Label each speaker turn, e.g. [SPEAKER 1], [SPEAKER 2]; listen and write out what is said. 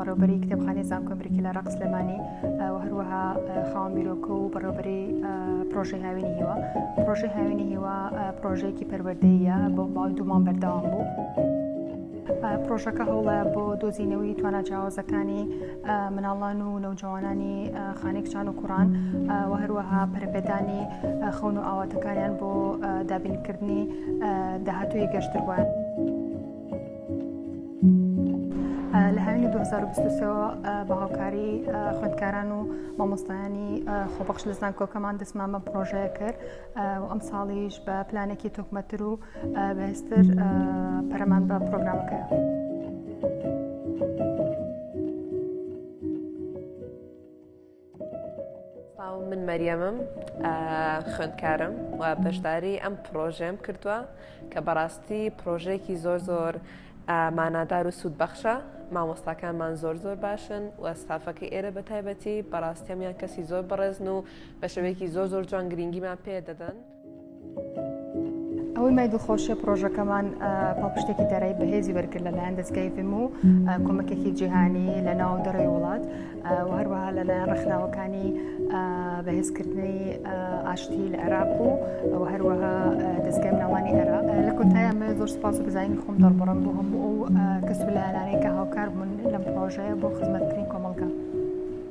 [SPEAKER 1] بەڕێوبەری کتێبخانی زانکۆی بریکی لە ڕق سلێمانی و هەروەها خاوەن بیرۆکە و بەڕێوبەری پرۆژەی هاوینی هیوا پرۆژەی هاوینی هیوا پرۆژەیەکی پەروەردەیە بۆ باڵ دومان بەردەوام بوو. پرۆژەکە هەوڵە بۆ دۆزینەوەی توانا جیاوازەکانی مناڵان و نەوجەوانانی خانەی کچان و کوڕان و هەروەها پەرپێدانی خەون و ئاواتەکانیان بۆ دابینکردنی داهاتوی گەشتر بووە. لە هاوینی 2023 بە هاوکاری خوندکاران و مامۆستایانی خۆبەخش لە زانکۆکەمان دەستمان بە پرۆژەیە کرد و ئەمساڵیش بە پلانێکی تۆکمەتر و بەهێزتر پەرەمان بە پرۆگرامەکەیە.
[SPEAKER 2] من مەریەمم خوێندکارم و بەشداری ئەم پرۆژێم کردووە کە بەڕاستی پرۆژێکی زۆر زۆر مانادار و سوود بەخشە مامۆستاکانمان زۆر زۆر باشن و ستافەکە ئێرە بە تایبەتی بەڕاستەمیان کەسی زۆر بەڕێزن و بە شێوەیەکی زۆر زۆر جوان گرنگیمان پێ دەدەن.
[SPEAKER 1] ئەوەی مای دڵخۆشە پرۆژەکەمان پاڵپشتێکی دارایی بەهێزی وەرگرت لەلایەن دەستگای فم و کۆمەکێکی جیهانی لە ناو دەڕێ وڵات و هەروەها لەلایەن ڕخناوەکانی بەهێزکردنی ئاشتی لە عێراق و ئەو هەروەها دەستگای مناڵانی عێراق لە کۆتایە من زۆر سپاس و بزانین خۆم دەڕبڕم بۆ هەموو ئەو کەس و لایەنانەی کە هاوکار بوون لەم پرۆژەیە بۆ خزمەتکردنی کۆمەڵگە.